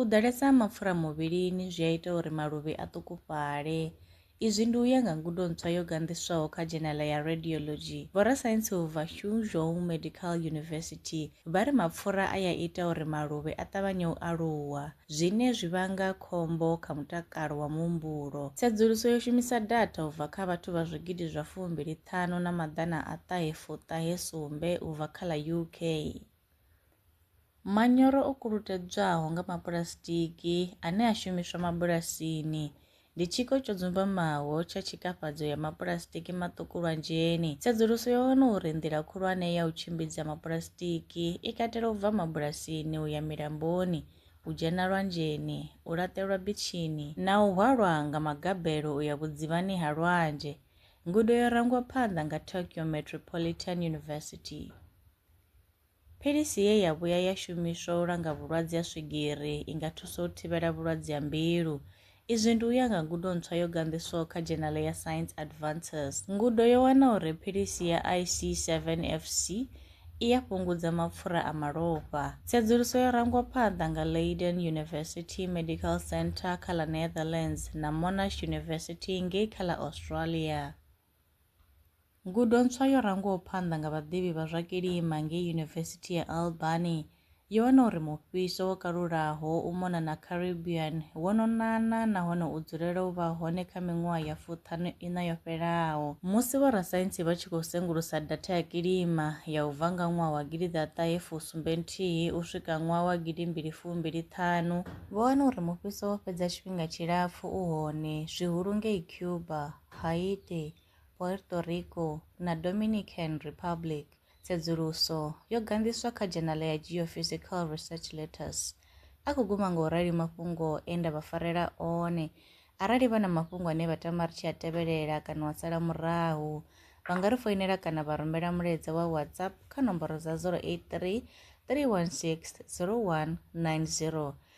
U ḓalesa ha mapfura muvhilini zwi a ita uri maluvhi a ṱukufhale. Izwi ndi u ya nga ngudo ntswa yo ganḓiswaho kha dzhenela ya Radiology. Vhorasaintsi vha Suzhou Medical University vha ri mapfura a ya ita uri maluvhi a ṱavhanye u aluwa, zwine zwi vhanga khombo kha mutakalo wa muhumbulo. Tsedzuluso yo shumisa datha u bva kha vhathu vha zwigidi zwa fumbili ṱhanu na maḓana a ṱahe fu ṱahe sumbe u bva kha ḽa UK. Manyoro o kulutedzwaho nga mapuḽasitiki ane a shumiswa mabulasini ndi tshiko tsho dzumbamaho tsha tshikafhadzo ya mapuḽasitiki maṱuku lwanzheni. Tsedzuluso yo wana uri nḓila khulwane ya u tshimbidza mapuḽasitiki i katela u bva mabulasini u ya milamboni, u dzhena lwanzheni, u laṱelwa bitshini na u hwalwa nga magabelo u ya vhudzivhani ha lwanzhe. Ngudo yo rangwa phanḓa nga Tokyo Metropolitan University. Philisi ye ya vhuya ya shumiswa u langa vhulwadze ha swigiri i nga thusa u thivhela vhulwadze ha mbilu. Izwi ndi u ya nga ngudo ntswa yo ganḓiswaho kha dzhenale ya Science Advances. Ngudo yo wana uri philisi ya IC7FC i ya fhungudza mapfura a malofha. Tsedzuluso yo rangwa phanḓa nga Leiden University Medical Centre kha ḽa Netherlands na Monash University ngei kha ḽa Australia. Ngudo ntswa yo rangwaho phanḓa nga vhaḓivhi vha zwa kilima ngei Yunivesithi ya Albany yo wana uri mufhiso wo kalulaho u mona na Caribbean wo no nana nahone u dzulela u vha hone kha miṅwaha ya fuṱhanu ina yo fhelaho. Musi vhorasaintsi vha tshi khou sengulusa datha ya kilima ya u bva nga ṅwaha wa gidi ḓa ṱahe fu sumbe nthihi u swika ṅwaha wa gidi mbili fu mbili ṱhanu, vho wana uri mufhiso wo fhedza tshifhinga tshilapfu u hone, zwihulu ngei Cuba. Haiti, Puerto Rico, na Dominican Republic, tsedzuluso yo ganḓiswa kha dzhenala ya Geophysical Research Letters. A khou guma nga u rali mafhungo e nda vha farela one. Arali vha na mafhungo ane vha tama ri tshi a tevhelela kana wa sala murahu, vha nga ri foinela kana vha rumela mulaedza wa WhatsApp kha nomboro dza 083 316 0190.